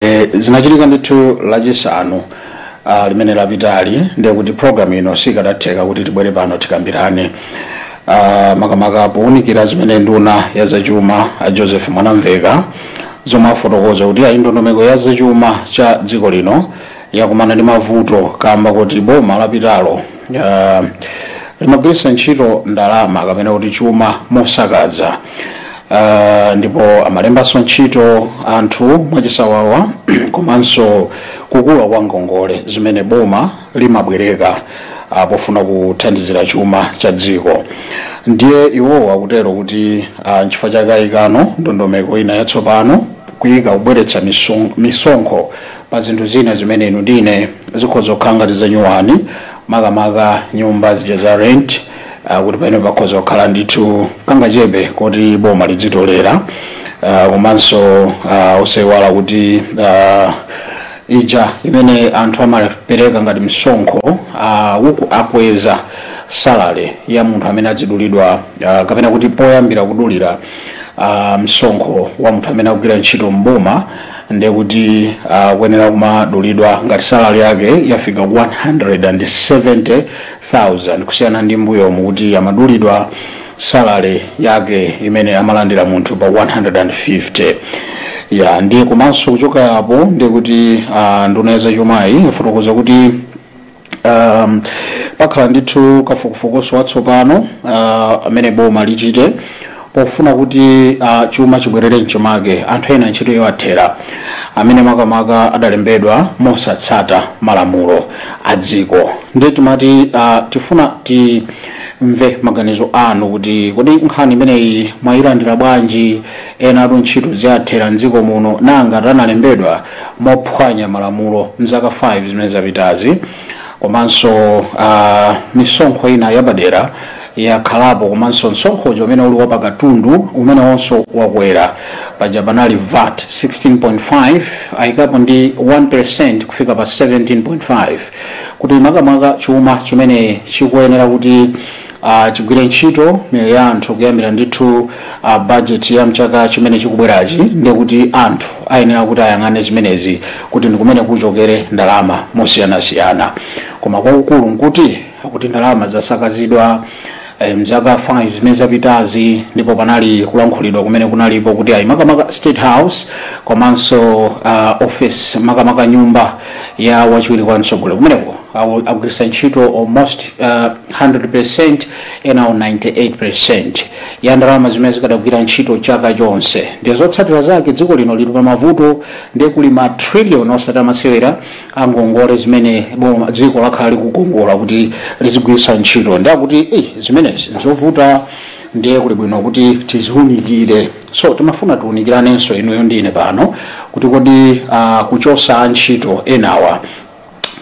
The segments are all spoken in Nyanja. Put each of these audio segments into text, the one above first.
e, zinachitika ndithu lachisanu uh, limene lapitali ndiye kuti programu ino sikadatheka kuti tibwere pano tikambirane uh, makamaka powunikira zimene nduna ya zachuma a joseph mwanamveka zomwe afotokoza kuti ayi ndondomeko ya zachuma cha dziko lino yakumana ndi mavuto kamba koti boma lapitalo uh, limagwiritsa ntchito ndalama kapena kuti chuma mosakaza uh, ndipo amalembanso ntchito anthu mwachisawawa komanso kukula kwa ngongole zimene boma limabwereka uh, pofuna kuthandizira chuma cha dziko ndiye iwowo akuterotu kuti uh, nchifukwa chake ayika ndondomeko ina yatsopano kuyika kubweretsa misong- misonkho Pa zinthu zina zimene inu ndi ine zikhoza kukhala ngati zanyuwani, makamaka nyumba zija za rent, ah, kuti pamenepo pakhoza kukhala ndithu kangachepe koti boma lidzitolera, ah, komanso ah, osaiwala kuti ah, ija imene anthu amapereka ngati msonkho ah, uku akweza salary ya munthu amene adzidulidwa ah, kapena kuti poyambira kudulira ah, msonkho wa munthu amene akugwira ntchito mboma ndiye kuti akuyenera kumadulidwa ngati salary yake yafika 170,000 kusiyana ndi mbuyomu kuti amadulidwa salary yake imene amalandira munthu pa 150 ya ndiye komanso kuchoka apo ndiye kuti ah, nduna ya zachumayi yafotokoza kuti um, pakhala ndithu kafukufukuso watsopano uh, amene boma lichite pofuna kuti uh, chuma chibwerere mchimake anthu ena ntchito iwathera amene makamaka adalembedwa mosatsata malamulo a dziko ndiye timati uh, tifuna timve maganizo anu kuti kodi nkhani imeneyi mwayilandira bwanji enatu ntchito ziwathera mdziko muno ngati analembedwa mophwanya malamulo m'zaka 5 zimene zapitazi. Komanso a misonkho inayo yapadera yakhalapo komanso msonkho uja umene uli wapakatundu umenewonso wakwera. Paja panali VAT 16.5 ayikapo ndi 1% kufika pa 17.5 kuti makamaka chuma chimene chikuyenera kuti uh, chigwire ntchito miyoyo ya anthu kuyambira ndithu uh, budget ya mchaka chimene chikubwerachi ndiye kuti anthu ayenera kuti ayang'ane zimenezi kuti ndikumene kuchokere ndalama mosiyanasiyana koma kwakukulu nkuti kuti ndalama zasakazidwa eh, mzaka 5 zimene zapitazi ndipo panali kulankhulidwa kumene kunalipo kuti ayi makamaka state house komanso uh, office makamaka nyumba ya wachiwiri kwa mtsogoleri kumeneko awu- agwiritsa ntchito almost uh, 100% enawo 98% ya ndalama zimene zikadagwira ntchito chaka chonse ndi zotsatira zake dziko lino lili pa mavuto ndiye kuli ma trillion osati amasewera angongole zimene boma dziko lakhala likukongola kuti lizigwiritsa ntchito ndiye akuti eh, zimenezi nzovuta ndiye kuli bwino kuti tiziunikire so timafuna tiunikiranenso inuyo ndi ine pano kuti kodi uh, kuchosa antchito enawa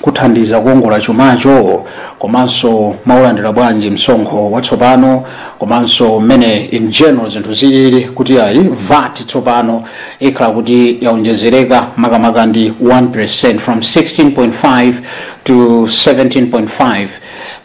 kuthandiza kuongola chumacho komanso mwaulandira bwanji msonkho watsopano komanso mmene in general zinthu zilili kuti ayi vat tsopano ikhala kuti yaonjezereka makamaka ndi 1% from 16.5 to 17.5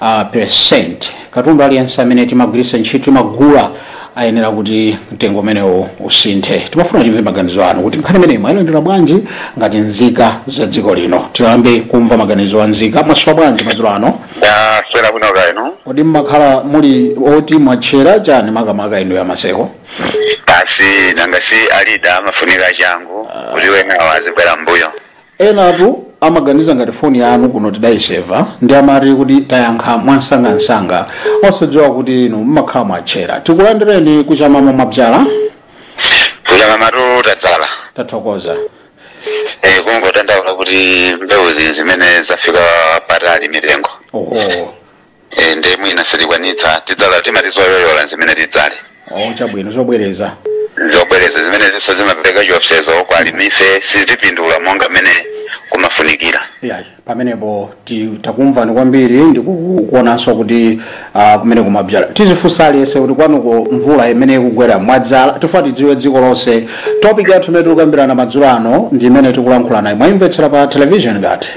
uh, percent Katundu aliyense amene timagwiritsa ntchito, timagula, ayenera kuti mtengo umenewo usinthe. Timafuna timve maganizo anu kuti nkhani imeneyi mwailandira bwanji ngati nzika za dziko lino. Tiyambe kumva maganizo a nzika. Mwaswera bwanji madzulo ano? ndaswera bwino kaya inu Kodi mmakhala muli oti mwatchera chani makamaka inu a maseko? basi nanga si lidali amafunika achangu kuti wenawo azibwera mbuyo enatu amaganiza ngati foni yanu kuno tidayiseva ndiye amati kuti tayankha mwamsangamsanga osadziwa kuti inu mmakhala mwatchera tikulandireni kuchamamo mwadzala kuchamamatu tadzala tathokoza Eh, kungodandaula kuti mbewu zi- zimene zafika patali mitengo oho e, nde mwina sitikwanitsa tidzala timati zoyoyola zimene tidzale oh chabwino zobwereza zobwereza zimene izonso zimapereka chiopsezo kwa alimife sitipindula monga mmene kumafunikira yayi pamenepo ti- takumvani kwambiri ndikuonanso kuti ah, kumene kumabzala tizifunsa aliyense kuti kwanuko mvula imene ikugwayi mwadzala tifuna tidziwe dziko lonse topic yathu imene tikukambirana madzulo ano ndi imene tikulankhulanayi mwaimvetsera pa television ngati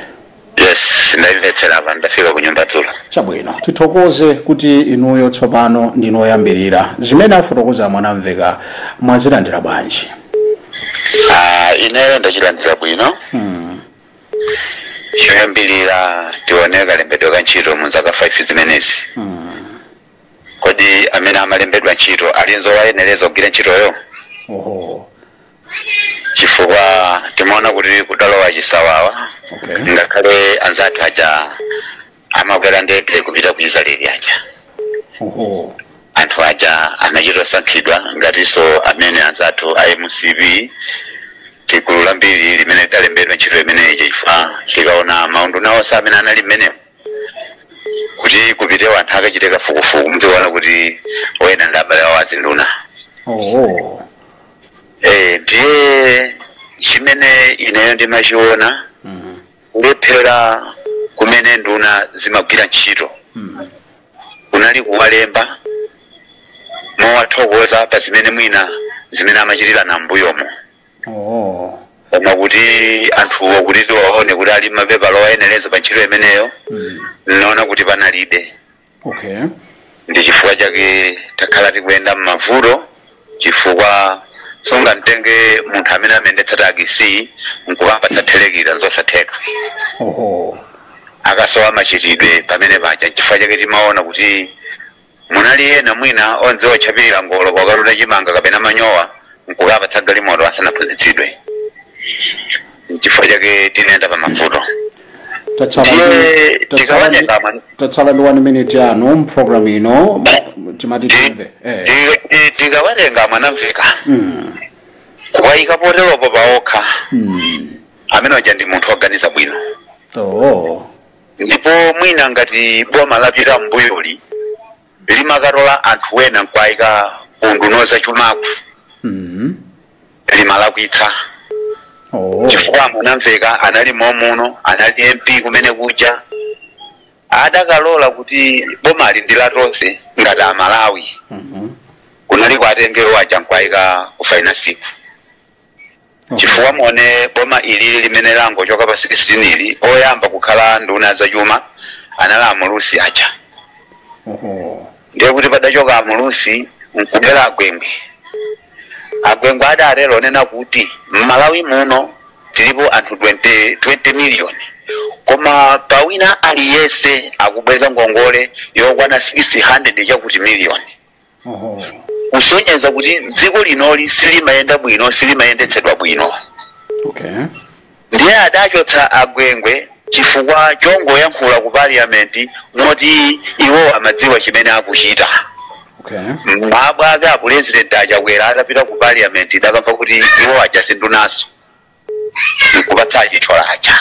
yes ndayimvetsera apa ndafika ku nyumba dzulo chabwino tithokoze kuti inuyo tsopano ndinu oyambirira zimene afotokoza mwanamveka mwazilandira bwanji Ah, ineyo ndachilandira bwino choyambirira tione kalembedwe ka ntchito mu zaka 5 zimenezi kodi amene amalembedwa ntchito ali nzowayenereza kugwira ntchitoyo oho chifukwa timaona kuti kudalowa chisawawa Okay. ngakhale anzathu aja amakwera ndege kupita ku israeli aja Oho. anthu aja anachita osankhidwa ngatinso amene anzathu a mcp ndi gulu lambiri limene lidalembedwa ntchito imeneyi chifukwa tikaona maunduna onse amene anali mmenemo kuti kupite anthu akachite kafukufuku muziona kuti ena ndi abale awo azinduna Oho. Eh, ndiye chimene ineyo ndimachiona Mhm. kulephera kumene ndunazi imagwira ntchito Mhm. kunali kuwalemba mowathokoza pa zimene mwina zimene amachitira m'mbuyomo Oh. koma kuti anthuwo kuti tiwaone kuti ali mapepala oyenereza pa ntchito imeneyo Mhm. ninaona kuti panalibe okay ndi chifukwa chake takhala tikuyenda m'mavuto chifukwa sungamtenge munthu amene amayendetsa takisi nkukampatsa thirekita nzosatheka oho akasowa machitidwe pamene paja chifukwa chake timaona kuti munali ena mwina odziwa kutchapirira ngolo kukatuta chimanga kapena manyowa nkukawapatsa galimoto asanaphunzitsidwe chifukwa chake tinayenda pa mavuto tatsala ndi- Ndiye tatsala ndi- tikawatenga mani. tatsala ndi 1 minute yanu mprogram ino timati timve eh. Ndi- ndi- tikawatenga a Mwanamveka Mm, kuwayika poteropo paokha mm. amene uja ndi munthu woganiza bwino Oh. ndipo mwina ngati boma lapita m'mbuyoli limakatola anthu wena nkwayika unduna wa zachumaku Mm. limalakwitsa oh. chifukwa a Mwanamveka anali momuno anali mp kumene kuja akadalola kuti bomali ndi la tonse ngati amalawi Mhm. kunali kuwatenga iwo aja nkwayika ku finance-ku Okay. chifukwa mwone boma ili limene langochoka pa 16 ili oyamba kukhala nduna ya zachuma anali amulusi aja Oho. ndiye kuti padachoka amulusi nkubwera agwengwe agwengwe adatero ponena kuti m'malawi muno tilipo anthu 20, 20 miliyoni koma pawina aliyense akubweza ngongole yokwana 600 chakuti miliyoni Oho. kusonyeza kuti dziko linoli silimayenda bwino silimayendetsedwa bwino Okay. Ndiye adachotsa a Gwengwe chifukwa chongoyankhula ku parliament moti iwowo amadziwa chimene akuchita. Okay. Mawa lake a president a Chakwera atapita ku parliament idakamba kuti iwo aja si ndunanso nkupatsa achitchola aja.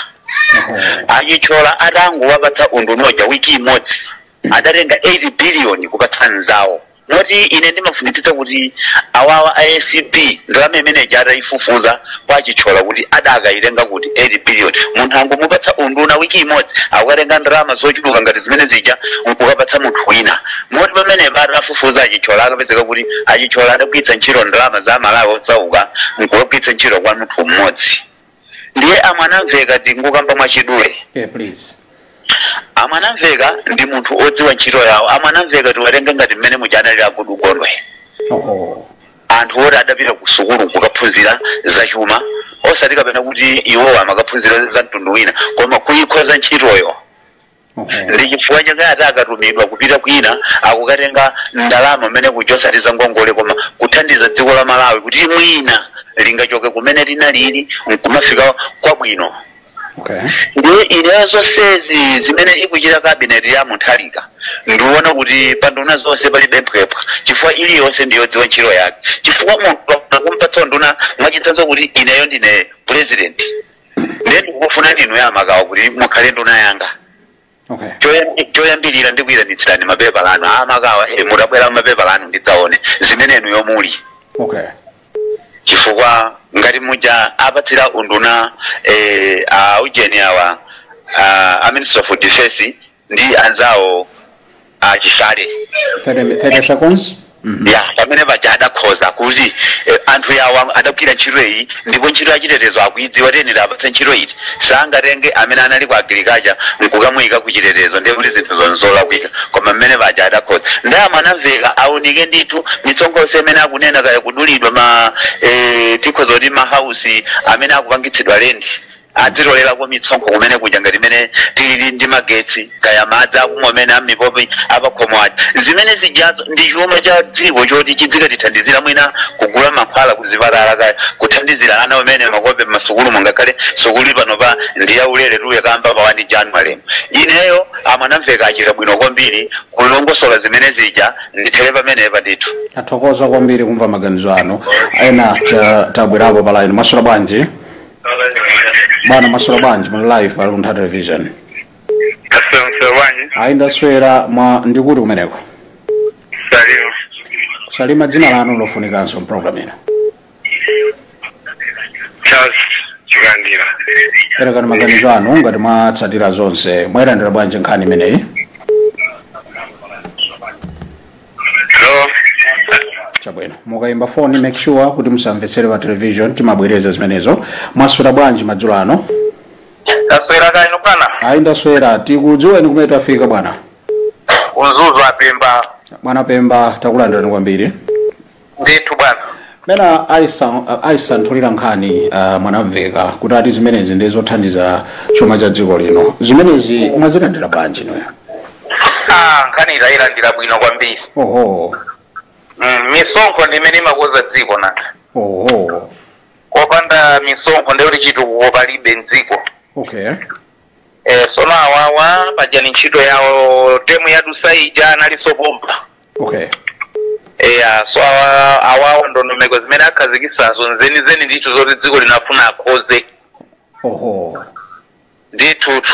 Oh. Achitchola atangowapatsa unduna uja wiki imodzi adatenga 8 billion kupatsa nzawo. moti ine ndimafunitsitsa kuti awawa a acb ndalama imene ija atayifufuza kwa a chitchola kuti adakayitenga kuti 8 billion munthu angomupatsa unduna wiki imodzi akukatenga ndalama zochuluka ngati zimene zija nkukapatsa munthu wina moti pamenepa atafufuza achitchola akapezeka kuti achitchola adagwiritsa ntchito ndalama za amalawi osauka nkukagwiritsa ntchito kwa munthu mmodzi ndiye amwanamveka ndingokamba mwachidule yeah, please amwanamveka ndi munthu odziwa ntchito yawo amwanamveka tiwatenge ngati mmene muja analili a goodall gondwe oh. anthu oti adapita ku sukulu kukaphunzira zachuma osati kapena kuti iwowa amakaphunzira za mtundu wina koma kuyikhoza ntchitoyo ndi chifukwa chake ati akatumidwa kupita kwina akukatenga ndalama kumene kuja osati za ngongole koma kuthandiza dziko la malawi kuti mwina lingachoke kumene tinalili nkumafika kwabwino okay ndiye ineyo zonsezi zimene ikuchita kabineti ya mutharika ndikuona kuti panduna zonse palibe mphwephwa chifukwa iliyonse ndiyodziwa ntchito yake chifukwa munthu akumpatsa nduna mwachitsanzo kuti ineyo ndine purezidenti ndiye ndikufuna inuyo a makawa kuti mukhale nduna yanga okay Choyam- choyambirira ndikuyitanitsirani mapepala anu a makawa eh, mukabwera mapepala anu ndidzaone zimene inuyo muli okay chifukwa ngati muja apatsira unduna eh, a ujeni awa a, a minister of defense ndi anzawo a chisale taitasa konse ya pamene paja adakhoza kuti eh, anthu awa adagwira ntchito iyi ndipo ntchito yachitetezo akuidziwa tiyenera tiwapatse ntchito iti sangatenge amene anali ku agriculture nkukamuyika ku chitetezo ndiye kuti zinthu zonse zolakwika koma mmene paja adakhoza ndiye amwanamveka aunike ndithu misonkho yonse imene akunena kaya kudulidwa ma eh, tikhoza kuti mahausi amene akupangitsidwa lendi adzitolelako misonkho kumene kuja ngati mmene tilili ndi magetsi kaya madzi akumwa omwe amipopi apakhomo aja zimene zijazo ndi chuma cha dziko choti chidzikatithandizira mwina kugula mankhwala kuzipatala kaya kuthandizira ana kumene makope m'masukulu ngakhale sukulu panopa ndi yaulere kuyamba pa 1 january ineyo amwanamveka achita bwino kwambiri kulongosola zimene zija ndithere pamenepa ndithu tathokoza kwambiri kumva maganizo anu ena a- atabwerapo pa line mwaswera bwanji bwana mwaswera bwanji muli live pa luntha television Asante bwanji. ayi ndaswera bwana ndi kuti kumeneko Salimu. salima dzina lanu lofunikanso mprogram ino Charles Chikandira. perekani maganizo anu ngati mwatsatira zonse mwayilandira bwanji nkhani imeneyi Hello. chabwino mukayimba foni make sure kuti musamvetsere pa television timabwereza zimenezo mwaswera bwanji madzulo ano Taswera kaya inu bwana. ayi ndaswera tikudziweni kumene tafika bwana Ku Mzuzu a pemba. bwana pemba takulandirani kwambiri ndithu bwana mmene aisa- aisanthulira nkhani uh, mwanamveka kuti ati zimenezi ndi zothandiza chuma cha dziko lino zimenezi mwazilandira bwanji ineyo Ah, nkhani ndayilandira bwino kwambiri oho Mm, misonkho ndi imene imakoza dziko nanga oho kopanda misonkho ndiye kuti chitukuko palibe mdziko okay eh, sono awawa pajani ntchito yawo temu yadusa ija analisopomba okay eya so awa- awawo ndondomeko zimene akhazikisazo nzenizeni ndithu zoti dziko lino afuna akhoze oho ndithutu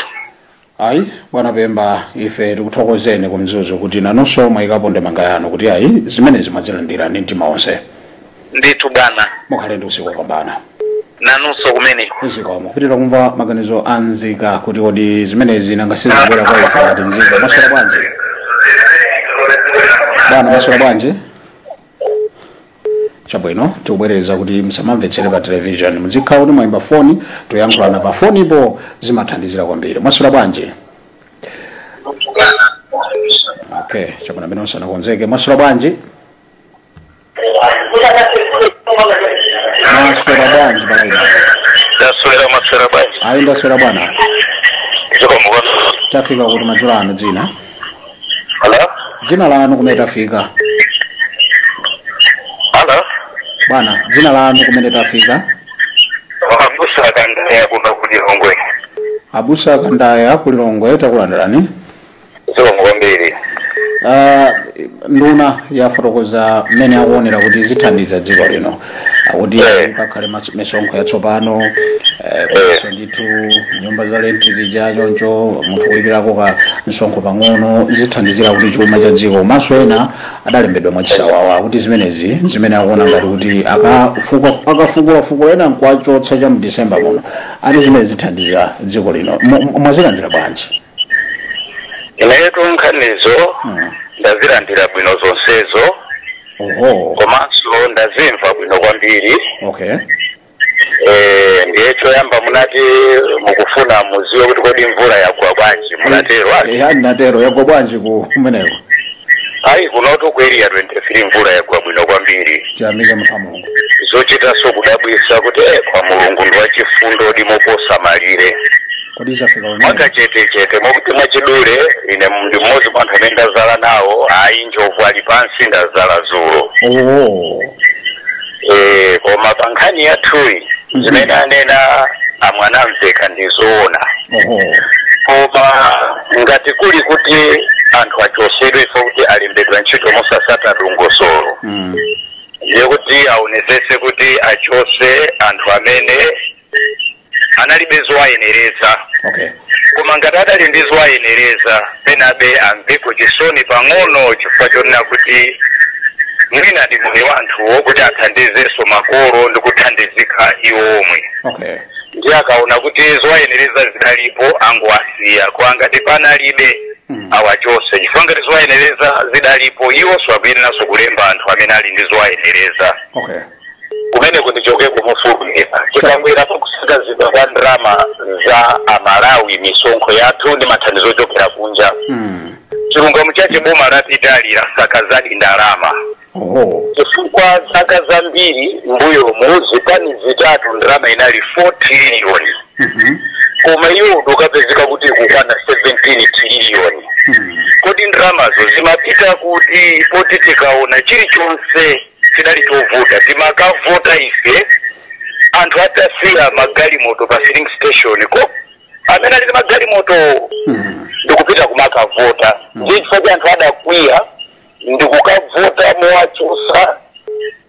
ayi bwana pemba ife tikuthokozeni ku Mzuzu kuti nanonso mwayikapo ndemanga yanu kuti ayi zimenezi mwazilandira ndi mtima onse ndithu bwana mukhale ndi usiku wopambana nanunso komwe zikomo kupitira kumva maganizo a nzika kuti kodi zimenezi nanga sizibwera kwa ife ngati nzika maswera bwanji bwana maswera bwanji chabwino tikubwereza kuti musamamvetsere pa television muzikhala kuti mwayimba foni tiziyankhulana pa fonipo zimathandizira kwambiri maswera bwanji okay chabwino amenewo sanakonzeke maswera bwanji maswera bwanji kaya inu ndaswera maswera bwanji ayi ndaswera bwana zikomo tafika kuti madzulo ano dzina halo dzina lanu kumene tafika halo bwana dzina lanu kumene tafika abusa kandaya kuno kulilongwe abusa kandaya kulilongwe takulandirani zikomo kwambiri Ah, nduna yafotokoza mmene akuonera kuti zithandiza dziko lino akuti Eh. pakhale mas- misonkho yatsopano eh, komanso ndithu nyumba za lenti zija chonchi munthu kulipirako ka msonkho pang'ono zithandizira kuti chuma cha dziko komanso ena adalembedwa mwachisawawa kuti zimenezi zimene akuona ngati kuti akafuka- akafukulafukula ena nkuwachotsa cha mdisemba muno ati zimenezi zithandiza dziko lino Mu- mu- mwazilandira bwanji inetu nkhanizo Mm. ndazilandira bwino zonsezo oho komanso ndazimva bwino kwambiri okay Eh, ndiye choyamba munati mukufuna mudziwe kuti kodi mvula yagwa bwanji munatero ati eya ndinatero yagwa bwanji ku kumeneko ayi kunotu ku area 23 mvula yagwa bwino kwambiri tiyamike munthu wa mulungu zochitanso kudabwisa kuti eh, koma mulungu ndi wachifundo ndi moposa malire kodi zafika pamene mwakachetechete mwakuti mwachidule ine ndi mmodzi mwa anthu amene ndazala nawo ayi njovu ali pansi ndazala zulo oo Eh, koma pa nkhani yathuyi Mhm. zimene anena a Mwanamvekha ndi zoona oho koma ngati kuli kuti anthu achosedwe chifukwa choti alembedwa ntchito mosasata dongosolo Mm. ndiye kuti aonesese kuti achose anthu amene analibe zowayenereza okay koma ngati adali ndi zowayenereza penabe amveko chisoni pang'ono chifukwa chonena kuti mwina ndi mwayi wa anthuwo kuti athandizenso makolo ndi kuthandizika iwo omwe okay ndiye akaona kuti zowayenereza zidalipo angowasiya koma ngati panalibe Mm. awachose chifukwa ngati zowayenereza zidalipo iwonso akuyeneranso kulemba anthu amene ali ndi zowayenereza okay komano ndichokeko mofulumira tikabwera pakusakazidwa kwa ndalama za amalawi misonkho yathu ndi mathandizo ochokera kunja Mm. chilungamo chache boma lapitali lasakazadi ndalama Oh. chifukwa zaka zambiri mbuyomu zipani zitatu ndalama inali 4 triliyoni Mhm. koma iwo ndikupezeka kuti kukwana 17 triliyoni Mm. kodi ndalamazo zimapita kuti poti tikaona chilichonse chidali chovuta timakavota ife anthu atasiya magalimoto pa filling station kwa amene ali ndi magalimoto ndikupita kumakavota ndiye chifukwa chake anthu adakwiya ndikukavota mowachusa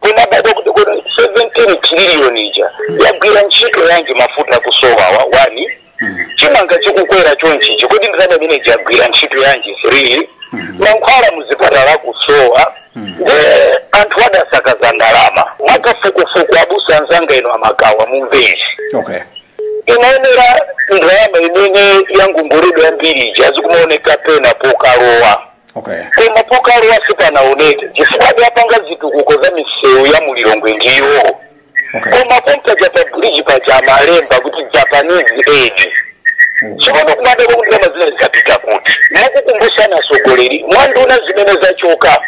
kumadabwa kuti kodi 17 trillion ija yagwira ntchito yanji mafuta akusowawa wani chimanga chikukwera chonchichi kodi ndalama imeneyi yagwira ntchito yanji 3 mankhwala muzipatala kusowa ndi anthu adasakaza ndalama mwakafukufuku abusa anzanga ino amagawa mu envelopu okay inaonera ndalama imene yangongoledwa yambiri ija zikumaoneka pena pokalowa okay koma pokalowa sipanaoneke chifukwa adapanga zitukuko za misewu ya mulilongwe ndiwo koma pompaja pa bridge paja amalemba kuti japanese aid tsopano kumadabwa kuti ndalama zinazi zikupita kuti mwakukumbutsani atsogoleri mwanduna zimene zachoka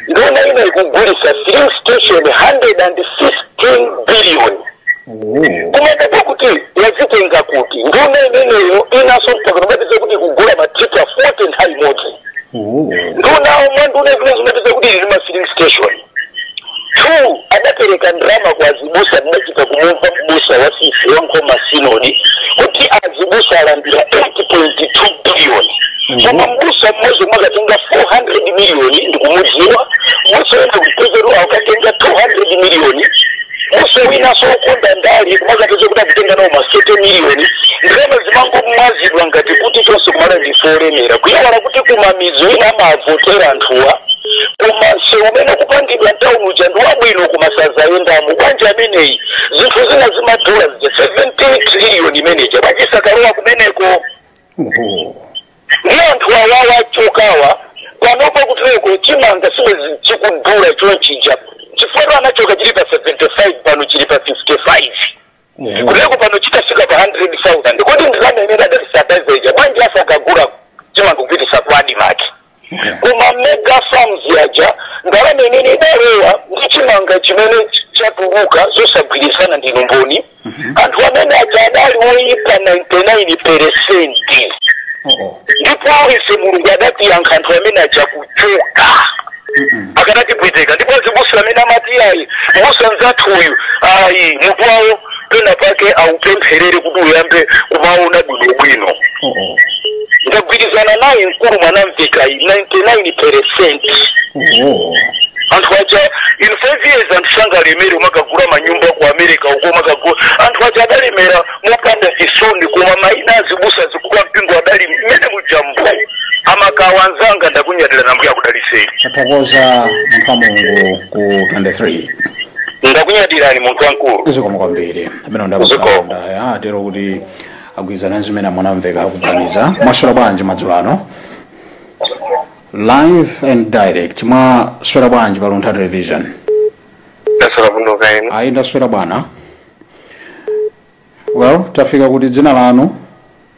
nduna ina ikugulisa filling station 115 billion kumadabwa kuti wazitenga kuti nduna imeneyo inaso mpaka akumatiuza kuti ikugula matipa 40 nthawi imodzi nduna mwanduna zimene zikumatiuza kuti ili ndi ma filling station 2 adapereka ndalama kwa azibusa ndidachita kumumva mbusa wa sisi wa nkhoma sinodi kuti azibusa alandira 8.2 biliyoni koma mbusa mmodzi yemwe akatenga 400 miliyoni ndikumudziwa mbusa wina kupezero akatenga 200 miliyoni munthu winanso wokonda ndali kumazapeza kuti akutenga nawo ma 70 miliyoni ndalama zimangomwazidwa ngati kuti chonsecho kuMalawi ndife olemera kuiwala kuti kumamidzi ena amavotera anthuwa koma msewu umene kupangidwa mtauni uja ndi wabwino koma sadzayendamo bwanji ameneyi zinthu zina zimadula zija 17 triliyoni imeneja bwanji sakalowa kumeneko oho ndi anthu awawa achokawa panopa kutereko chimanga si bwenzi chikudula chonchija chifukwa tu anachoka chili pa 75 pano chili pa 55 kutereko pano chitafika pa 100000 kodi ndalama imene adatisadaiza ija bwanji asakugula chimanga kupititsa ku ADMARC koma mega farms yaja ndalama imene idalowa ndi chimanga chimene chatuluka zosagwirizana ndili mboni anthu amene aja adali oyipa 99 peresenti oo ndipo ife mulungu adatiyankha anthu amene aja kuchoka akanatipweteka ndipo abusa amene amati ayi m'busa nzathu uyu ayi mutu wawo pena pake aupempherere kuti uyambe kumaona bwinobwino oo ndagwirizana naye mkulu Mwanamvekayu 99 percent oho anthu aja in five years anthu sangalemere umakagula manyumba ku america uko umakagula anthu aja adalemera mopanda chisoni koma ena azibusa akulu a mpingo adali mmene mujamo amakhala anzanga ndakunyadirani Ambuye akudaliseni tathokoza munthu wa mulungu ku 23 ndakunyadirani munthu wankulu zikomo kwambiri amene Zikomo. a ku Nsaonda atero kuti agwirizana nazo zimene a Mwanamveka akuganiza mwaswera bwanji madzulo ano live and direct mwaswera bwanji pa luntha television ndasala kuno kaena ayi ndaswera bwino well tafika kuti dzina lanu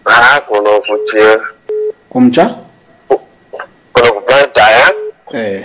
ha kuno kuti kumcha kuno kubadaya eh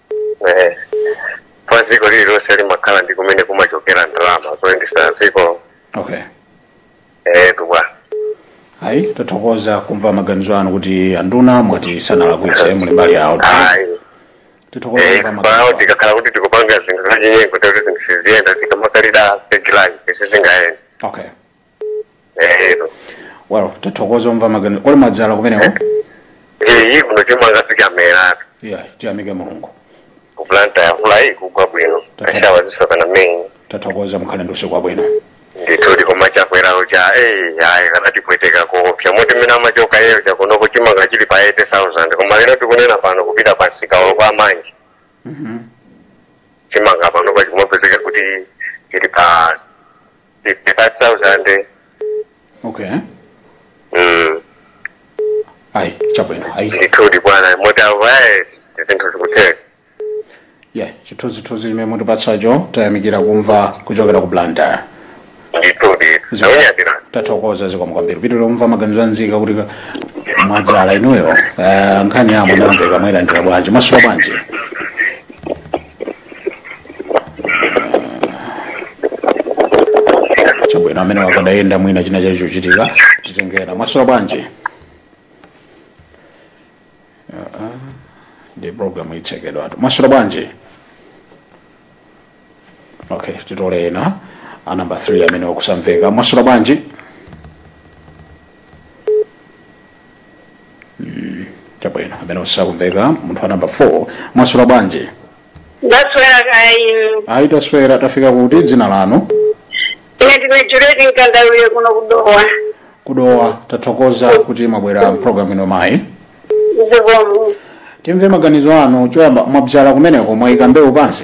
Eh, pa dziko lililonse limakhala ndi kumene kumachokera ndalama zoyendesa dziko okay eh kubwa ayi tathokoza kumva maganizo anu kuti anduna mwati sanalakwitse muli mbali yawo ayi tithokoza eh kumva maganizo anu. tikakhala kuti tikupanga zinthu zachinyengo ndekuti zinthu siziyenda tikamadalira pegilani sizingayenda okay Eh, well tithokoze kumva maganizo kodi mwadzala kumeneko eh, ayi kuno chimanga sichamera yeah tiyamike mulungu ku planta ya mvula iyi kugwa bwino Tatha- ashawa zisokana menyi tathokoza mukhale ndi usiku wabwino ndithudi koma chakwerawo cha eh, ayi akanatipweteka koopsa moti mmene amachoka yeyo cha kunoko chimanga chili pa 80000 koma lero tikunena pano kupita pa msika wa kwa manji chimanga pano chikumapezeka kuti chili pa 55,000. okay Mm. ayi chabwino ayi Ndithudi bwana, moti avaye zinthu zikutheka. yeah chithunzithunzi chimene mwatipatsacho tayamikira kumva kuchokera ku Blantyre Ndithudi. Zonyadira. tathokoza zikomo kwambiri timve maganizo anzika kuti mwadzala inuyo eh, nkhani yamveka mwayilandira bwanji mwaswera bwanji chabwino amene akadayenda mwina china chake chochitika titenge ena mwaswera bwanji Ah, ah, ndi programu itsekedwa apa mwaswera bwanji okay titole ena a number 3 amene sakumveka mwaswera bwanji chabwino amene sakumveka munthu wa nambala 4 mwaswera bwanji ndaswera kaya inu ayi taswera tafika kuti dzina lanu ine ndine Juleti Mkandawire kuno ku Dowa ku Dowa tathokoza kuti mwabwera mpulogalamu ino mayi zikomo timve maganizo anu choyamba mwabyala kumeneko mwayika mbewu pansi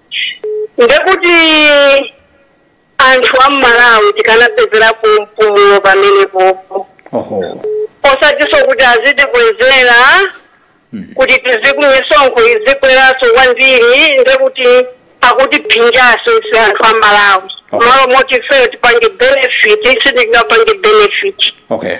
ndekuti anthu a m'Malawi tikanapezerapo mpumulo pamenepopo oho osatinso kuti azitikwezera kuti tizi kumisonkho izikweranso kwambiri ndekuti akutiphinjanso ife anthu a m'Malawi Okay. malo moti ifeyo tipange benefit sitingapange benefit okay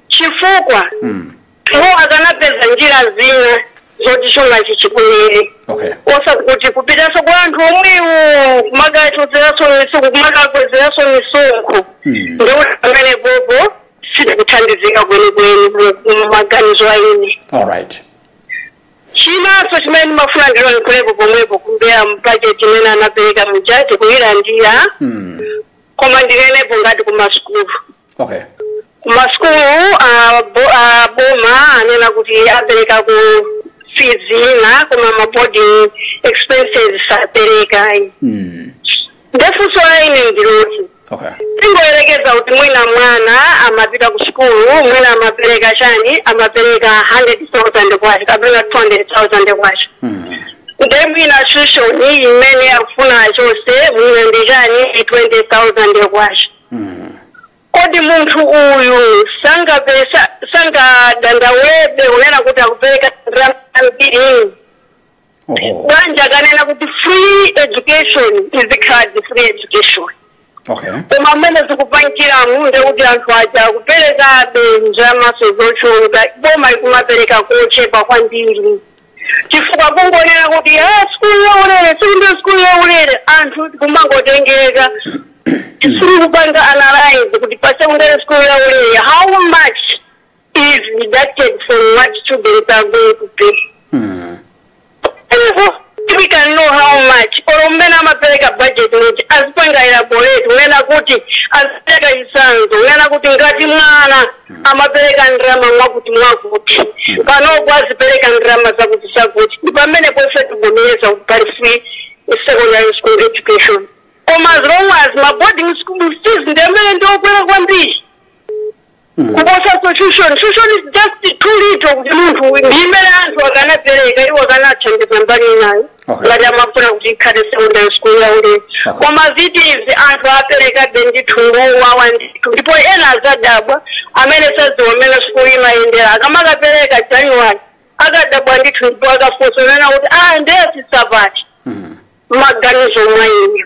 chifukwa mm. Iwo akanapeza njira zina zoti chumachi chibwerere okay osati kuti kupitanso kwa anthu omwewo kumakakwezeranso misonkho kumakakwezeranso misonkho ndekuti pamenepopo sitikuthandizika kwenikweni mmaganizo a ine all right chinanso chimene ndimafuna ndilankhulepo pomwepo kumbali ya bajeti imene anapereka muja tikuyilandira koma ndinenepo ngati kumasukulu okay kumasukulu ah, bo- ah, boma anena kuti apereka school fees ina koma maboarding expenses sapereka mm. nde funso la ine ndiloti okay tingoyerekeza kuti mwina mwana amapita ku sukulu mwina amapereka chani amapereka 100,000 kwacha kapena 200,000 kwacha mm. Nde mwina tuition imene akufuna achotse mwina ndi chani 20,000 kwacha. Kodi munthu uyu sangapeze sangadandaulebe kunena kuti akupereka ndalama zambiri. Oho. Bwenzi akanena kuti free education izikhaladi free education. okay koma mmene zikupangiramo ndekuti anthu aja akuperekabe ndalama zomwezo zochuluka boma ikumapereka kochepa kwambiri chifukwa kungonena kuti "Ah, sikulu yaulere sekondale sikulu yaulere anthu kumangotengeka osakupanga analyze kuti pasekondale sikulu yaulere how much is deducted from what children are going to pay. Mm. we can know how much or mmene amapereka budget kuti azipanga elaborate kunena kuti azipereka chitsanzo kunena kuti ngati mwana amapereka ndalama mwakuti mwakuti panopo azipereka ndalama zakuti zakuti ndi pamene ife tivomereza kuti pali free secondary school education koma as long as ma boarding school fees ndi amene ndi okwera kwambiri kuposa tuition tuition is just too little kuti munthu ndi imene anthu akanapereka iwo akanathandiza mbali inayo Okay. ngati amafuna kuti ikhale secondary school yaulere Okay. koma fees anthu aperekabe ndithu ngowawa ndithu ndipo ena adzadabwa amene sadziwa mmene sukulu imayendera akamakapereka januwali akadabwa ndithu ndipo akafunsa kunena kuti ah ndeyasisapati maganizo mwaine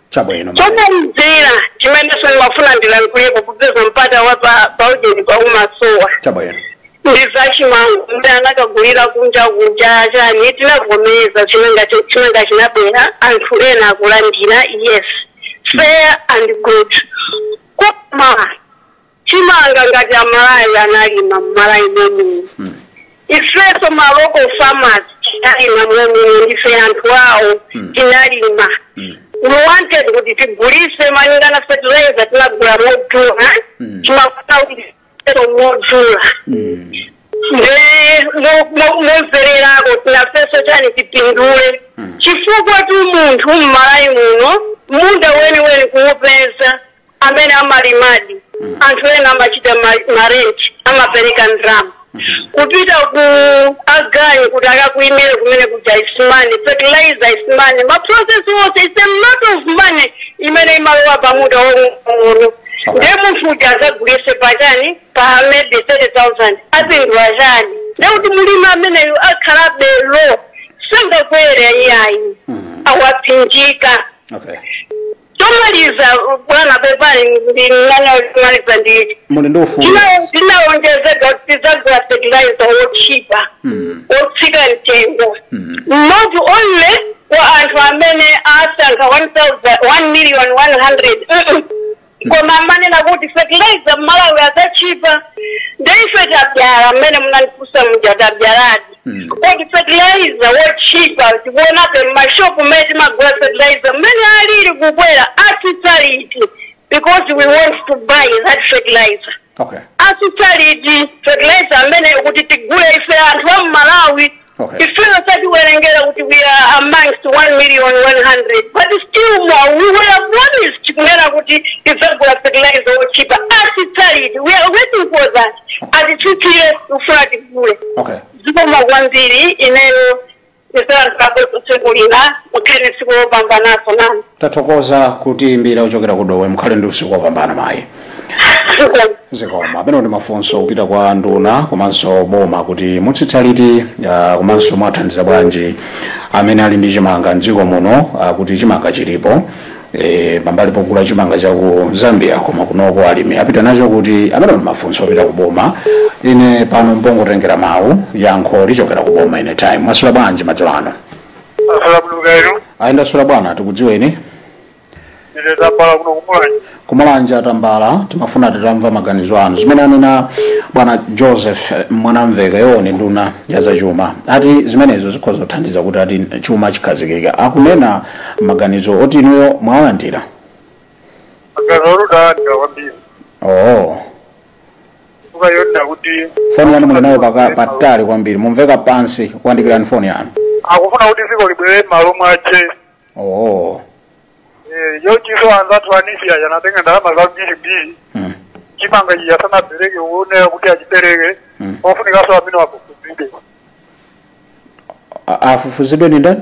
chabwino mayi. chomalizira chimenenso ndimafuna ndilankhuleko kupeza mpata wa pa- paujeni pa umasowa chabwino ndi zachimanga muti anakagulira kunja kunja chani tinavomereza chimanga chi- chimanga chinabwera anthu ena akulandira yes fair and good koma chimanga ngati amalawi analima mmalawi momwe ifenso ma local farmers tinalima momwe ndife anthu awo tinalima we wanted kuti tigulitse malingana fertilizer tinagula modula timafuna kuti tigulitse modula ndimvererako tinafenso chani tipindule chifukwa tu munthu mmalawi muno munda weniweni kuupeza amene amalimadi anthu ena amachita ma- marenji amapereka ndalama kupita ku aganyu kuti akakulimire kumunda kuja ikanimo fertilizer ikanimo maprocess onse is a lot of money imene imalowa pamunda wong'ono ndiye munthu uja adzagulitse pachani pa maybe 30000 apindula chani ndiye kuti mlimi ameneyu akhalabe low sangakwere iyayi akupsinjika okay chomaliza bwana pepani ndi mmene chomaliza nditi muli ndi ufulu Tina- tinalonjezedwa kuti tidzagula fertilizer wotchipa Mm. wotsika mtengo Mm. not only kwa anthu amene asankha 1,000 1 million 100 Mm-mm. koma amanena kuti fertilizer mmalawi adzatchipa nde ife tabzala mmene munandifunsa muja tabzaladi kodi fertilizer wotchipa tikuonabe m'mashopu mmene timagula fertilizer mmene alili kukwera asitsa liti because we want to buy that fertilizer okay asitsa liti fertilizer amene kuti tigule ife anthu a m'Malawi Okay. ifeyo satiwerengera kuti we are amongst 1 million 100 but still more we were promised kunena kuti tidzagula fertilizer wotchipa asitsa liti we are waiting for that atitsitsire kufuna tigule okay zikomo kwambiri ineyo ndisalankhulapo kutsekulira mukhale tsiku lopambananso nanu tathokoza kutiimbira kuchokera ku Dowa mukhale ndi usiku wopambana mayi zikomo zikomo amenewo ndi mafunso kupita kwa nduna komanso boma kuti mutsitsa liti ah, komanso mwathandiza bwanji amene ali ndi chimanga mdziko muno ah, kuti chimanga chilipo e, pambali pogula chimanga cha ku zambia koma kunoku alimi apita nacho kuti amenewo ndi mafunso opita ku boma ine pano ndi pongotengera mawu yankho lichokera ku boma ine mwaswera bwanji madzulo ano asala buluka ino ai ndaswera bwana tikudziweni ine tambala kuno kumulanje kumulanje atambala timafuna titamva maganizo anu zimene anena bwana joseph eh, Mwanamvekha yoona nduna ya zachuma ati zimenezo zikhoza kuthandiza kuti ati chuma chikhazikike akunena maganizo oti inuyo mwawalandira maganizo otani ndawalandira kwambiri oh zikuoneka kuti foni yanu muli nayo paka- patali kwambiri mumveka pansi iyandikireni foni yanu akufuna kuti dziko libwerere m'malo mwache oh Eh, komanso anzathu a NEEF anatenga ndalama zambirimbiri mm. chimanga iye asanapereke kuoneka kuti achipereke Mm. pofunikanso amenewa afufuzidwe A- afufuzidwe ndi ndani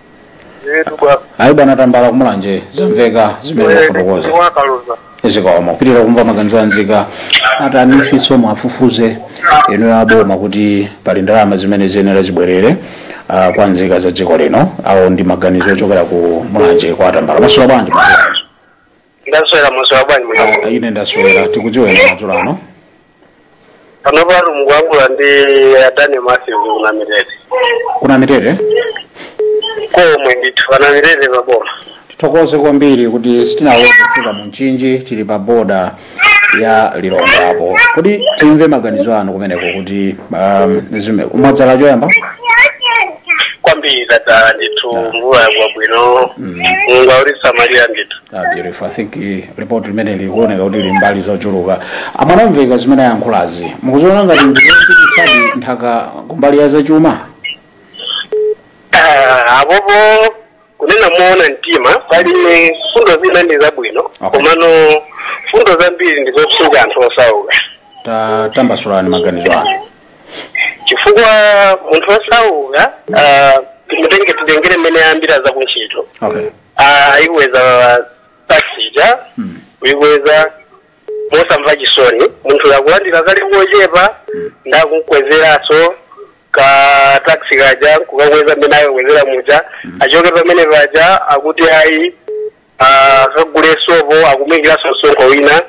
Yetu bwana. ayi bwana Tambala kumulanje zamveka zimene mwafotokoza Wakaluza. zikomo tipitirize kumva maganizo a nzika ati a NEEF-nso muwafufuze inu aboma kuti pali ndalama zimene ziyenera zibwerere ah, kwa nzika za dziko lino awo ndi maganizo ochokera ku mulanje kwa atambala mwaswera bwanji ndaswera mwaswera bwanji muno ine ndaswera tikudziweni madzulo ano pano pano mukuyankhula ndi adani masizi ku Namitete ku Namitete komwe ndithu pa Namitete paboma tithokoze kwambiri kuti sitinathe kufika mu mchinji tili pa boda ya Lilongwepo kodi timve maganizo anu kumeneko kuti um, zime- mwadzala choyamba kwambiri tadzala ndithu Yeah. mvula yagwa bwino Mm. mulungu akutisamalira ndithu Ah, beautiful. I think eh, report limene likuoneka kuti lili mbali zochuluka a Mwanamvekha zimene ayankhulazi mukuziona ngati ndi zotithandizadi makamaka kumbali ya zachuma Ah, apopo kunena moona mtima pali mfundo zinanso ndi zabwino Okay. komano mfundo zambiri ndi zopsinja anthu osauka Ta- tambasulani maganizo anu chifukwa munthu osauka ah, timutenge titengere mmene ayambira za kuntchito okay Ah, ayikweza taxi ija kuyikweza mosamva chisoni munthu akulandira kali kochepa nde akumukwezeranso ka taxi kaja kukakweza mmene akakwezera muja achoke pamene paja akuti ayi ah, akagule sopo akumuikiranso msonkho wina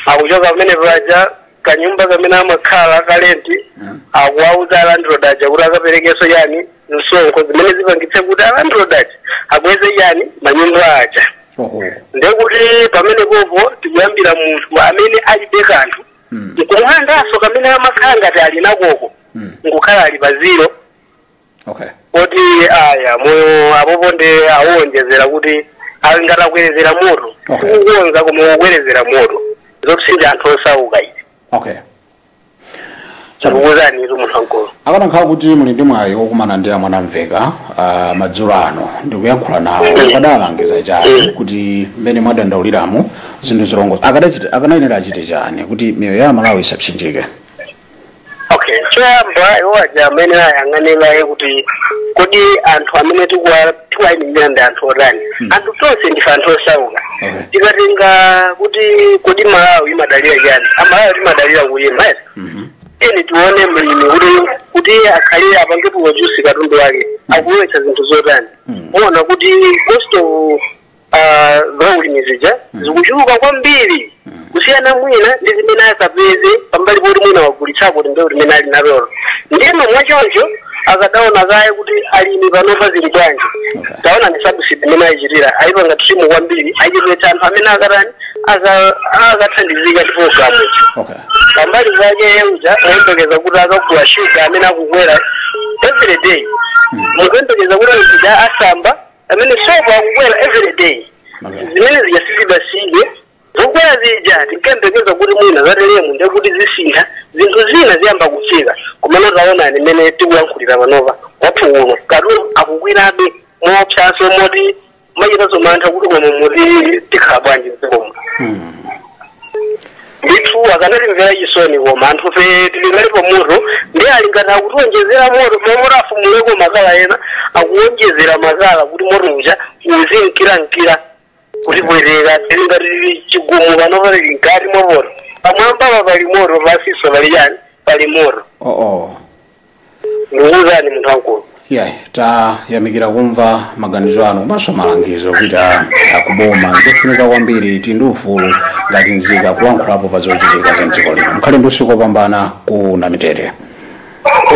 akuchoka pamene paja kanyumba kamene amakhala kalenti akuwauza alandroad aja kuti akaperekenso yani msonkho zimene zipangitse kuti alandroad aja akweze yani manyumba aja oho ndekuti pamene popo tikuyambira munthu amene alibe kanthu nkumulandanso kamene amakhala ngati ali nakoko nkukhala ali pa zero okay kuti aya moyo apopo nde awonjezera kuti ali ngati akwerezera moto Okay. sikukonza koma kukwerezera moto zopsinja anthu osauka izi okay Takuuzanitu munthu wamkulu. akanakhala kuti muli ndi mwayi wokumana ndi amwanamveka ah, madzulo ano ndikuyankhula nawo mukadalangiza chani kuti mmene mwadandauliramo zinthu zilongosoke akadachita akanayenera achite chani kuti miyoyo ya amalawi isapsinjike Okay, choyamba iwo aja akanayang'ana kaye kuti kodi anthu amene tikuwa- tiwayimirira ndi anthu otani anthu tonse ndife anthu osauka Okay. tikatenga kuti kodi malawi imadalira chani amalawi timadalira kulima yes. tiyeni tione mlimi kuti kuti iye akalime apange produce katundu wake akulowetsa zinthu zotani muona kuti cost of ah, za ulimi zija zikuchuluka kwambiri kusiyana mwina ndi zimene akapeze pambali poti mwina wagulitsako kuti mbewu limene ali nalolo ndiye mwachoncho akadaona kaye kuti alimi panopa zili bwanji taona ndi sabusidi imene ayichitira ayipanga trim kwambiri ayichepetsa anthu amene akatani aka- akathandizika ndi programu okay pambali zake yemuja mukuyembekeza kuti akagula shuga amene akukwera every day mukuyembekeza kuti azikasamba amene sopo akukwera every day Okay. zimene zija sizidatsike zokwera zija tinkayembekeza kuti mwina zatelemu ndiye kuti zisintha zinthu zina ziyamba kutsika komano taonani mmene tikuyankhulira panopa kwathu kuno katundu akukwerabe moopsanso moti machita nazo mantha kuti koma muti tikhala bwanji mdzikomo ndithu akanatimvera chisoni koma anthu fe tili ngati tili pa moto ndiye alingati akutiwonjezera moto mamoto aphumuleko makala ena akuwonjezera makala kuti moto uja uzinkirankira kutipwetekera tilingati chigumu pano tili mkati mwa moto pamwambapa pali moto pansinso pali chani pali moto oh, oh. ndikuuzani munthu wamkulu yeah tayamikira kumva maganizo anu komanso malangizo kuti a- akuboma nzofunika kwambiri tili ndi ufulu ngati nzika kulankhulapo pa zochitika za mdziko lino mkhale ndi usiku wopambana ku namitete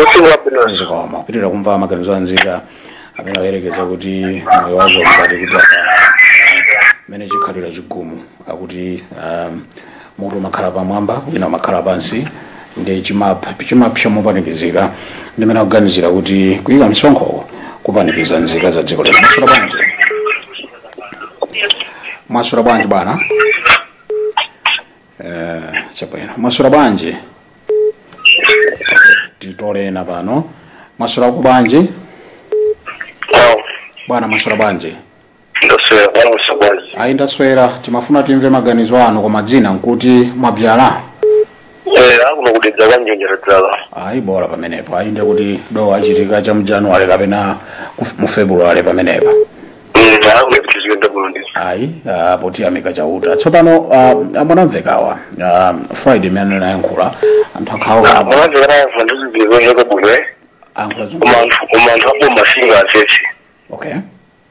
usiku wabwino zikomo kupitiriza kumva maganizo a nzika amene ayerekeza kuti moyo wazo mkati kuti apa mmene chikhalira chigumu akuti um, Moto umakhala pamwamba, wina umakhala pansi, ndiye chimap- chimapsa mopanikizika. Ndi mmene akuganizira kuti kuyika msonkhowo kupanikiza nzika za dziko lino. Mwaswera bwanji? Mwaswera bwanji bwana? Eh, chabwino. Mwaswera bwanji? Titole ena pano. Mwaswera bwanji? Bwana mwaswera bwanji? ndaswera kwa musokozi ayi ndaswera timafuna timve maganizo anu koma dzina nkuti mwabyala eh akuno ku dedza kwa njenje tadzala ayi bola pamenepo ayi ndiye kuti dowe achitika cha mjanuwale kapena kuf- mu februwale pamenepo mm akuno kuti ziyenda kuno ndi ayi ah, poti tiyamika chauta tsopano ah, a mwanamvekhawa ah, friday imene anayankhula anthu akhawa amuna zikana yafa ndizibizoneka bwino eh ayankhula koma zonse anthu koma anthu aboma singa asese okay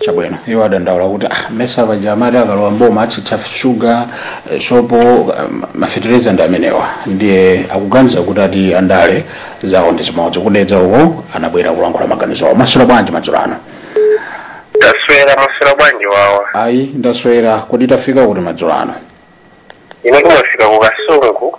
chabwino iwo adandaula kuti ah, mesa paja amati akalowa mboma atsitsa shuga eh, sopo eh, ma- mafetereza ndi amenewa ndiye akuganiza kuti ati andale zawo ndi zimodzi ku dedza uko anabwera kulankhula maganizo awo mwaswera bwanji madzulo ano taswera mwaswera bwanji wawa ayi ndaswera kodi tafika kuti madzulo ano ine kumafika ku kasungu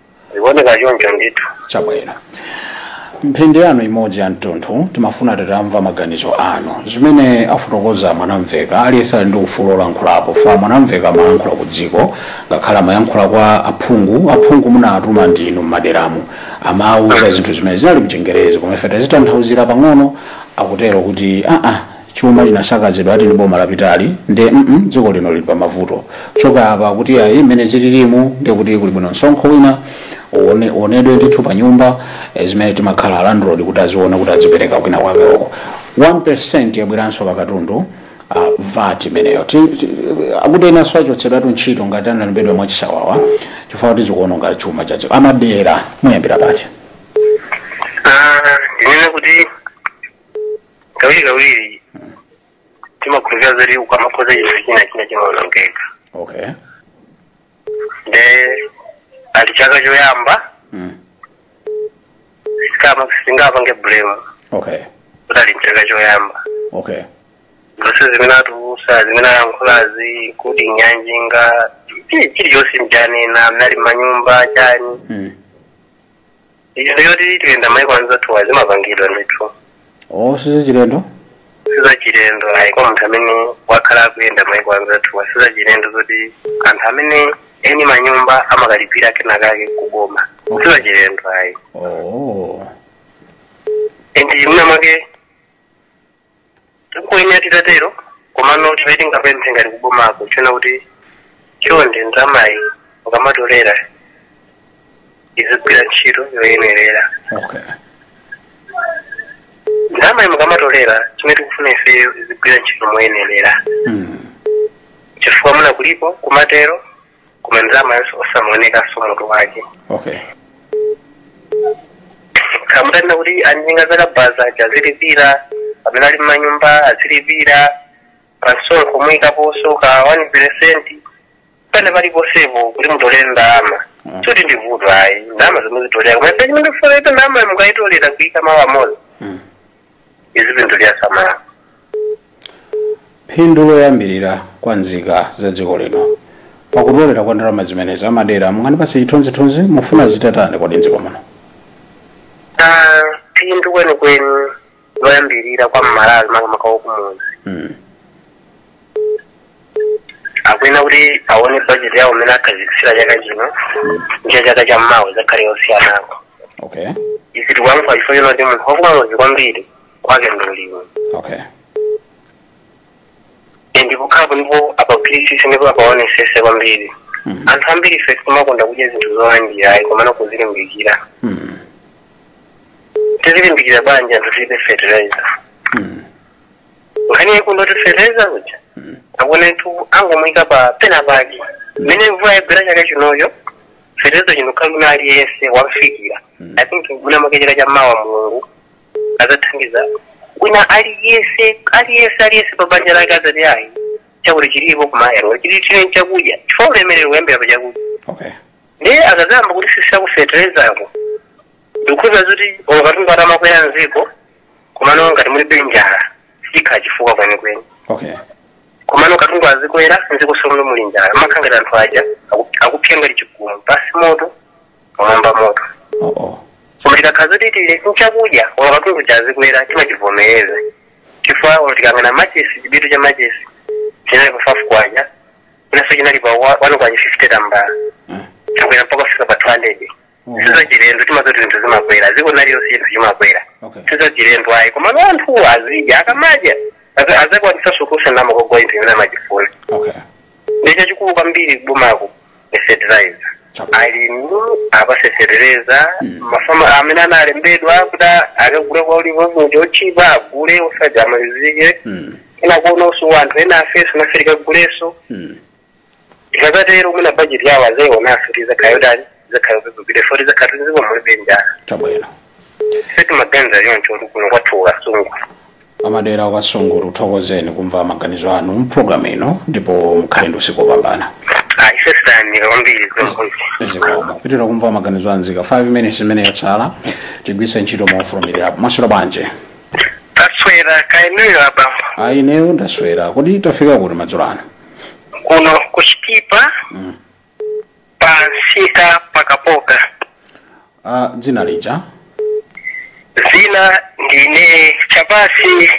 zikuoneka choncho ndithu chabwino mphindi yanu imodzi ya mtunthu timafuna titamva maganizo anu zimene afotokoza a mwanamvekha aliyense ali ndi ufulu wolankhulapo fukwa a mwanamvekha amalankhula ku dziko ngakhale amayankhula kwa aphungu aphungu munatuma ndinu m'maderamu amawuza zinthu zimene zinali mchingerezi koma ife tazitanthauzira pang'ono akutero kuti aa chuma chinasakazidwa ati ndi boma lapitali nde mm dziko lino lili pamavuto choka apa akuti ayi mmene zililimu nde kuti kuli bwino msonkho wina uone- uonedwe ndithu pa nyumba eh, zimene timakhala landlord kuti aziona kuti adzipereka kwina kwake uko 1 yabweranso pa katundu uh, vat imeneyo Ti- ti- akuti enanso achotsedwatu ntchito ngati analembedwa mwachisawawa chifukwa kuti zikuononga chuma cha dziko amadala muyambira pati Ah, ndinene kuti kawirikawiri timakhulupirira zoti ukamakonza chinthu china china chimaonongeka okay nde ali chaka choyamba mm. sikama sitingapange blame okay kuti ali mchaka choyamba okay zonse zimene atulusa zimene ayankhulazi kuti ndi ya njinga chili- chilichonse mchanena mnali manyumba chani mm. izo zoti tiyenda maiko anzathuwa zimapangidwa ndithu oh sizachilendo sizachilendo ayi kwa munthu amene wakhala akuyenda maiko anzathuwa sizachilendo zoti anthu amene eni manyumba amakalipira kenakake kuboma sizachilendo ayi oh ndi mwina mwake tikuyenera titatero komano chimene tingapemphe ngati kubomako nchonena kuti chonde ndalamayi mukamatolera izigwira ntchito yoyenerera okay ndalamayi mukamatolera chimene tikufuna ifeyo izigwira ntchito moyenerera mm. chifukwa mwina kulipo kumatero koma ndalama yonse osamuonekanso mutu wake okay kaya mutanena kuti anjinga zakabaza aja azilipira amene ali mmanyumba azilipira pansonkho muyikaponso ka 1 percent pane paliponsepo kuti mutolere ndalama Mm. sikuti ndivuto ayi ndalama muzitolera koma chimene tikufuna ndalama mukayitolera kuyika mawu amodzi Mm. izi zinthu tiyisamala phindu loyambirira kwa nzika za dziko lino pakutolera kwa ndalama zimenezi a Madeya mungandipatse chithunzithunzi mufuna zitatani kodi mdziko muno Ah, phindu kwenikweni loyambirira kwa mmalawi makamaka wakumudzi mm. akuyenera kuti aone bajeti yawo imene akhazikitsira chaka chino ndi ya chaka cha mmawa idzakhale yosiyanako okay izi tikuyankhula chifukwa chonena kuti munthu wakumudzi kwambiri kwake ndi ulimi okay Eh, ndipo akhalepo ndipo apagwirisise ndipo apaonesese kwambiri Mhm. anthu ambiri ife sitimakonda kudya zinthu zolandira ayi komano kuzilimbikira Mm. tizilimbikira bwanji anthu tilibe fertilizer Mm. nkhani yake ndiyoti feteleza uja akunetu angomuyika pa pena pake mmene mvula yagwera chaka chinocho feteleza chikhala wina aliyense wamfikira i think mwina mwake chaka cha mawa mulungu azathandiza wina aliyense aliyense aliyense pa banja lake azati ayi chakudya chilipo kumayero chili chine chakudya chifukwa ulemerero umayambira pa chakudya okay ndiye akazayamba kutisisira kufeterezako ndikukhulupira zoti olo katundu atamakwera mziko komano ngati mulibe njala sichikhala chifukwa kwenikweni okay komano katundu azikwera mziko munso muli njala mumakhala ngati anthu aja aku- akupsa ngati chigumu pasi moto pamwamba moto oh, oh. koma tikakhala zoti tili nchakudya olo katundu uja azikwera timachivomereza chifukwa olo tikaona machesi chibiriti cha machesi chinali pa faifi kwacha mwinanso chinali pa wa- wanu kwacha fifty tambala Eh. chakwera mpaka kufika pa 200 Oho. sizachilendo timati zinthu zimakwera dziko lililonse chinthu chimakwera Okay. sizachilendo ayi komano anthuwo azidya akamadya aza- azakwanisa kusanamako chinthu chimene amachifuna Okay. ndi chachikulu kwambiri kubomaku ni fertilizer Chakula. alimi apatse fertilizer mafama amene analembedwa kuti akagula kwaulere oti otchipa agule osati amalizike Mm. ena akuonanso anthu ena afeso nafe tikaguleso Mm. tikazatero mwina bajeti yawo azaionanso kuti izakhala yotani izakhala yopepukirapo tizakhala m'dziko mulibe njala chabwino sitimaganiza choncho kuti kuno kwathu ku Kasungu amadera a ku Kasungu tikuthokozeni kumva maganizo anu mpulogalamu ino ndipo mukhale ndi usiku wopambana ifenso tayamika kwambiri zomwe zikomo kupitiriza kumva maganizo a nzika 5 minutes imene yatsala tigwiritse ntchito mofulumira mwaswera bwanji taswera kaya inuyo abambo ayi ineyo ndaswera kodi tafika kuti madzulo ano kuno ku Chitipa mm. pansika pa Kapoka ah, dzina lija dzina ndine chapasi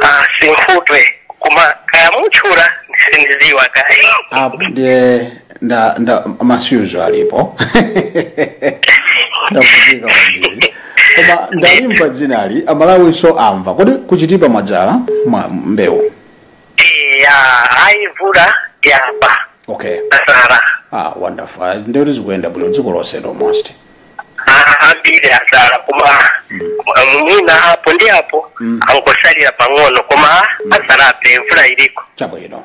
ah, sinkhutwe koma kaya mutchula sindiziwa kaya apo ndiye nda nda mavuto alipo ndavutika kwambiri koma ndalimva dzinali a Malawinso amva kodi ku Chitipa mwadzala mwa mbewu eya ayi mvula yamba okay adzala ah wonderful Ah, nde kuti zikuyenda bwino dziko lonse almost ambiri adzala koma mwina apo ndi apo angosalira pang'ono koma adzalabe mvula iliko chabwino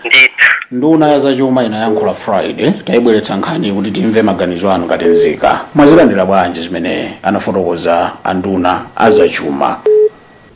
ndithu nduna ya zachuma inayankhula friday tayibweretsa nkhani kuti timve maganizo anu ngati nzika mwazilandira bwanji zimene anafotokoza anduna a zachuma